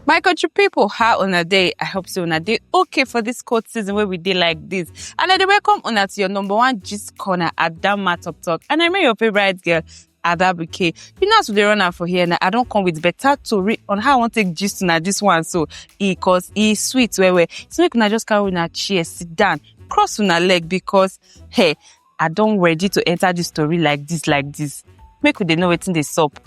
my country people, how on a day? i hope so on a day. okay for this cold season where we did like this and i welcome on to your number one gist corner at that matter talk and i remain your favorite girl Adabuke. You know as we dey run am for here now, I don come with better tori on how I wan take gist una this one so e cause e sweet well well. So make una just carry una chair sit down, cross una leg because hey, I don ready to enter this story like this like this. Make we dey know wetin dey sup.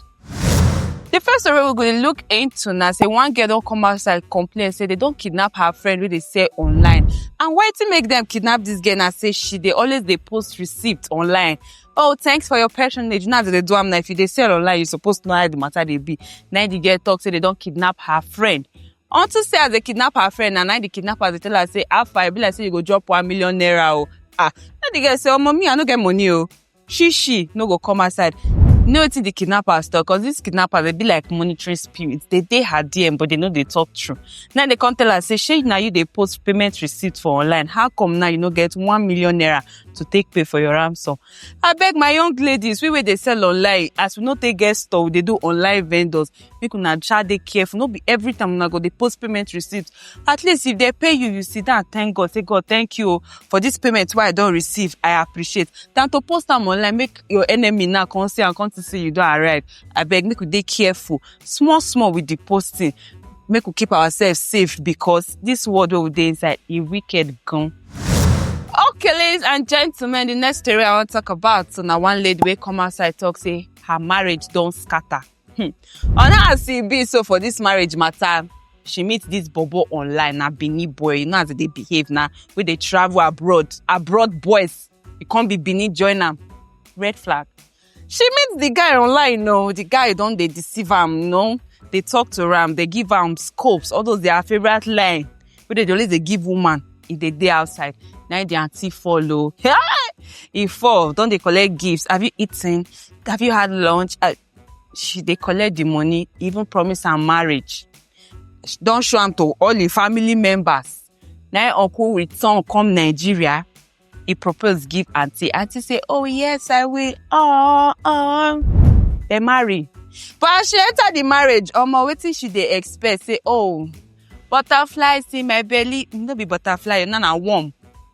The first story we go dey look into na say one girl don come outside complain say they don kidnap her friend wey dey sell online and wetin make dem kidnap this girl na say she dey always dey post receipt online oh thanks for your patronage now that they do am now if you dey sell online you suppose know how the matter dey be na the girl talk say they don kidnap her friend unto say as they kidnap her friend na na the kidnappers dey tell her say how far e be like say you go drop one million naira o ah na the girl say omo me i no get money o she she no go come outside you know wetin the kidnappers talk cause these kidnappers dey be like monitoring spirit dey dey her dm but they no dey talk true now they come tell her say shey na you dey post payment receipt for online how come now you no get one million naira to take pay for your ransom abeg my young ladies we wey dey sell online as we no take get store we dey do online vendors make una sha dey careful no be every time una go dey post payment receipt at least if dem pay you you sit down thank god say god thank you o for this payment wey i don receive i appreciate than to post am online make your enemy now come see am come see say you don arrive abeg make we dey careful small small with the posting make we keep ourselves safe because this world wey we dey inside e wicked gan. okay ladies and gentlemen the next story i wan talk about so na one lady wey come outside talk say her marriage don scatter hmm. on how as e be so for this marriage matter she meet this bobo online na benin boy you know as e dey behave na wey dey travel abroad abroad boys e come be benin join am red flag she meet the guy online no the guy don dey deceive am no dey talk to am dey give am scopes all those their favourite line wey dey dey always dey give woman e dey dey outside na im the aunty fall o e fall don dey collect gifts have you eaten have you had lunch Ah, she dey collect the money even promise am marriage She don show am to all im family members Now im uncle return come Nigeria, he propose give auntie. Auntie say, oh yes, I will. Oh, oh. They marry. But as she enter the marriage, omo wetin she dey expect say, oh, butterflies in my belly. No be butterfly, na na worm.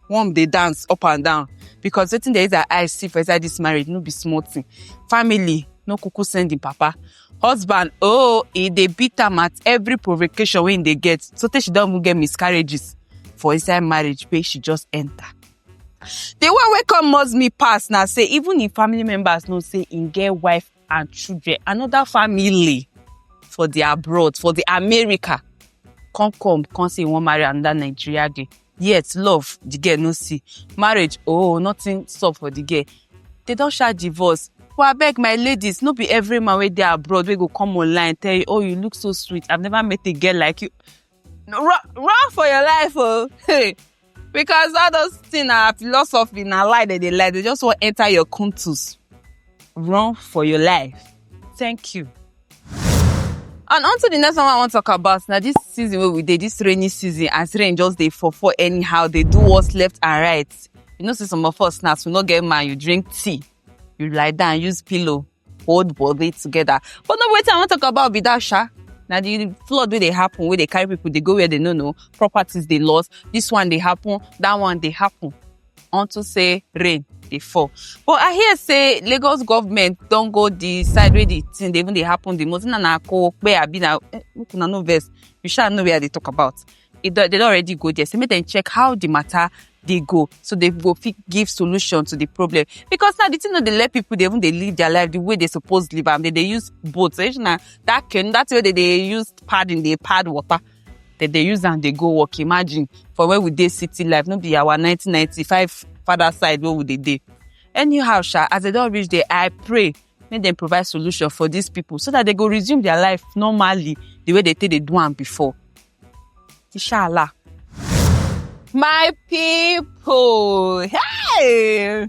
Worm dey dance up and down. Because wetin dey use her eyes see for inside this marriage, no be small thing. Family no kuku send im papa. husband oh e dey beat am at every provocation wey im dey get so tey she don even get miscarriages for inside marriage wey she just enter the one wey come must me pass na say even im family members know say im get wife and children another family for the abroad for the america come come come say im wan marry another nigeria girl yet love the girl no see marriage oh nothing sup for the girl they don sha divorce but abeg my ladies no be every man wey dey abroad wey go come online tell you oh you look so sweet i've never met a girl like you no, run, run for your life oh hey because all those things na philosophy na lie dem dey lie they just wan enter your kuntus run for your life thank you. And on to the next one I want to talk about. Now this season where we did this rainy season as rain just they for for anyhow they do what's left and right. You know, see some of us now, we not get man, you drink tea, you lie down, use pillow, hold body together. But no wait, I want to talk about Bidasha. Now the flood where they happen, where they carry people, they go where they no know, properties they lost. This one they happen, that one they happen. unto say rain dey fall but i hear say lagos government don go the side wey the thing dey even dey happen the most na na kowope abi na eh, make una no vex you sha know where i dey talk about e don they don already go there say make dem check how the matter dey go so they go fit give solution to the problem because now the thing no dey let people dey even dey live their life the way they suppose live am they dey use boat so if na that canoe that way they dey use padding dey pad water they dey use am dey go work imagine for where we dey city life no be our 1995 father side wey we dey dey anyhow sha as they don reach there i pray make dem provide solution for these people so that they go resume their life normally the way they take dey do am before inshallah my people hey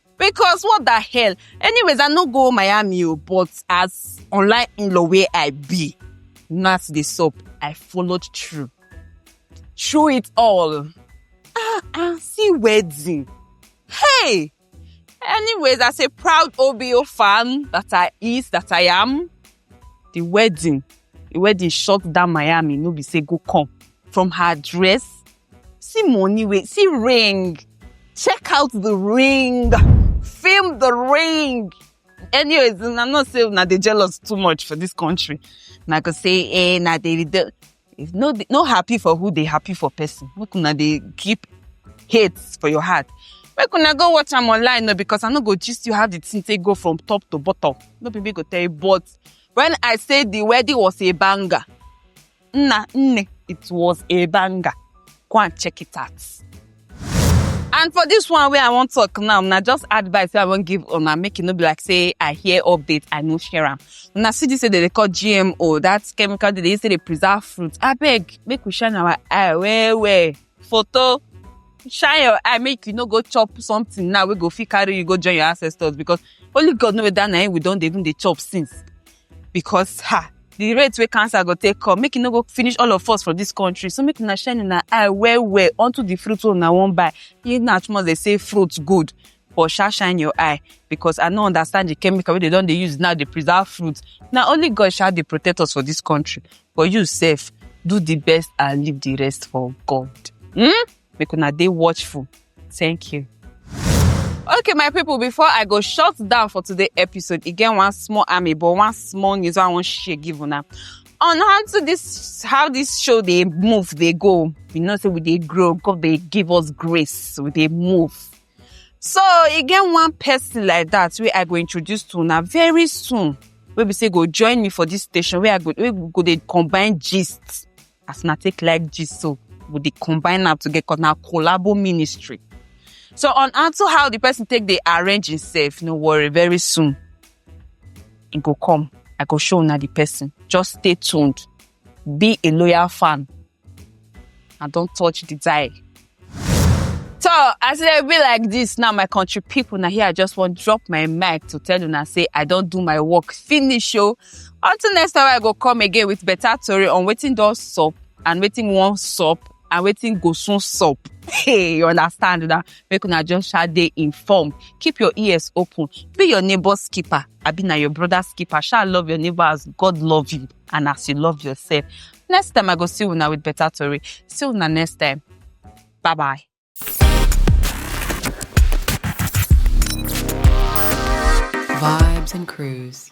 because what the hell anyways i no go miami o but as online in-law wey i be na as dey sup i followed through through it all ah ah see wedding hey anyways as a proud obo fan that i is that i am the wedding the wedding shut down miami no be say go come from her dress See money wey, see ring. Check out the ring. Film the ring. Anyways, I know say na dey jealous too much for this country. Na go say eh na dey dey- if no dey- no happy for who dey happy for person. Make una dey keep hate for your heart. Make una go watch am online no because I no go gist you how the thing take go from top to bottom. No be me go tell you but when I say the wedding was a banger, Nna, nne, it was a banger. Go and check it out. And for this one where I wan talk now, na just advice wey I wan give una make e no be like say I hear update, I no share am. Una see this wey dem dey call GMO, that chemical dem dey use take dey preserve fruit. Abeg, make we shine our eye well well. Photo, shine your eye make you no go chop something now wey go fit carry you go join your ancestors because only God know whether na him we don dey even dey chop since. because ha the rate wey cancer go take come make e no go finish all of us for this country so make una shine una eye well well unto the fruit wey una wan buy in as much they say fruit good but sha shine your eye because i no understand the chemical wey they don dey use now dey preserve fruit na only god sha dey protect us for this country but you sef do the best and leave the rest for god. Hmm? make una dey watchful thank you okay my people before i go shut down for today episode e get one small army but one small news wey i wan share give una on how to this how this show dey move dey go you know say we dey grow god dey give us grace we dey move so e get one person like that wey i go introduce to una very soon wey be say go join me for this station wey i go wey we go dey combine gist as una take like gist so we dey combine am together cause na collabo ministry so on unto how the person take dey arrange himself no worry very soon e go come i go show una the person just stay tuned be a loyal fan and don touch the dial So as e dey be like this now, my country people, na here I just wan drop my mic to tell una say I don do my work finish o. Until next time I go come again with better tori on wetin don sup and wetin wan sup and wetin go soon sup. Hey, you understand na? Make una just sha dey informed. Keep your ears open. Be your neighbor's keeper. Abi na your brother's keeper. Sha love your neighbor as God love you. and as you love yourself. Next time I go see una with better story. See una next time. Bye bye. Vibes and Cruise.